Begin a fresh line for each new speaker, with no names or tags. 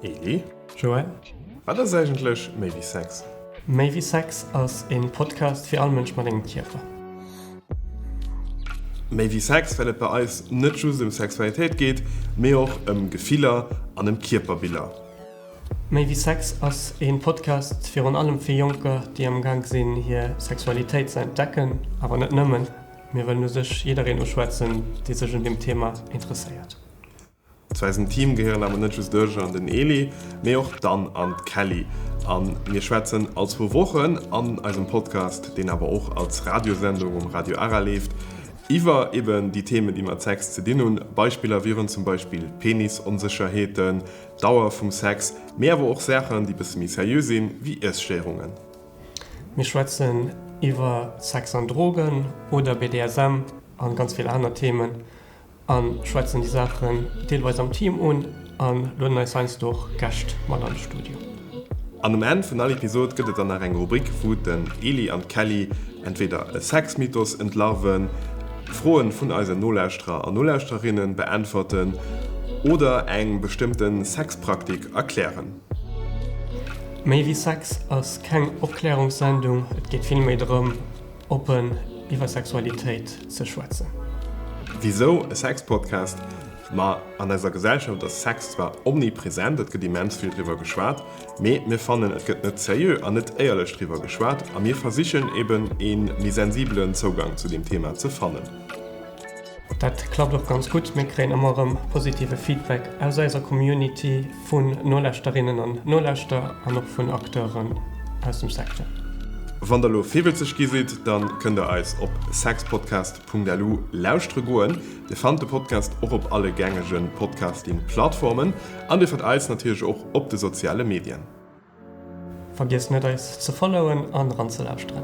Eli, Joël, wat ass eigentlech méi wéi Sex? Méi wéi Sex ass e Podcast fir all Mënsch mat engem Kierper. Méi wéi Sex, well et bei eis net just ëm Sexualitéit geet, mee och ëm Gefiller an ëm Kierperbiller. Méi wéi Sex ass ee Podcast virun allem fir Jonker, déi amgaang sinn hir Sexualitéit ze entdecken, awer net nëmmen. Mir wëllen u sech jiddereen uschwätzen, dee sech un deem Thema interesséiert. Zu eisem Team gehéieren awer net just d'Urge an den Eli, mee och d'Ann an d'Kelly. A mir schwätzen all zwou Wochen an eisem Podcast, deen awer och als Radiosendung um Radio Ara leeft, iwwer eben déi Themen, déi mat Sex ze dinn hunn. Beispiller wieren zum Beispill Penisonsécherheeten, Dauer vum Sex, mee awer och Saachen déi bësse méi seriö sinn, wéi Iesstéierungen. Mir schwätzen iwwer Sex an Drogen oder BDSM an ganz vill aner Themen an schwätzen déi Saachen deelweis am Team un an lueden eis heiansdo och Gäscht mat an de Studio. An um Enn vun all Episod gëtt et dann nach eng Rubrik wou den Eli an d'Kelly entweder e Sexmythos entlarven, Froen vun eisen Nolauschterer an Nolauschtererinnen beäntwerten oder eng bestëmmten Sexpraktik erklären. Méi wéi Sex ass keng Opklärungssendung, et geet vill méi drëm oppen iwwer Sexualitéit ze schwätzen. Wisou e Sexpodcast? Ma an eiser Gesellschaft ass Sex zwar omnipresent, et gëtt immens vill driwwer geschwat, mee mir fannen et gëtt net seriö an net éierlech driwwer geschwat a mir versichen eben ee méi sensibelen Zougang zu deem Thema ze fannen. Dat klappt och ganz gutt, mir kréien ëmmer erëm positive Feedback aus eiser Community vun Nolauschterinnen an Nolauschterer an och vun Acteuren aus dem Secteur. Wann der elo virwëtzeg gi sidd, dann kënnt der eis op sexpodcast. Punkt elu lauschtere goen. Dir fannt de Podcast och op alle gängege Podcasting Plattformen an dir fannt eis natierlech och op de soziale Medien. Vergiesst net eis ze followen an eranzelauschteren.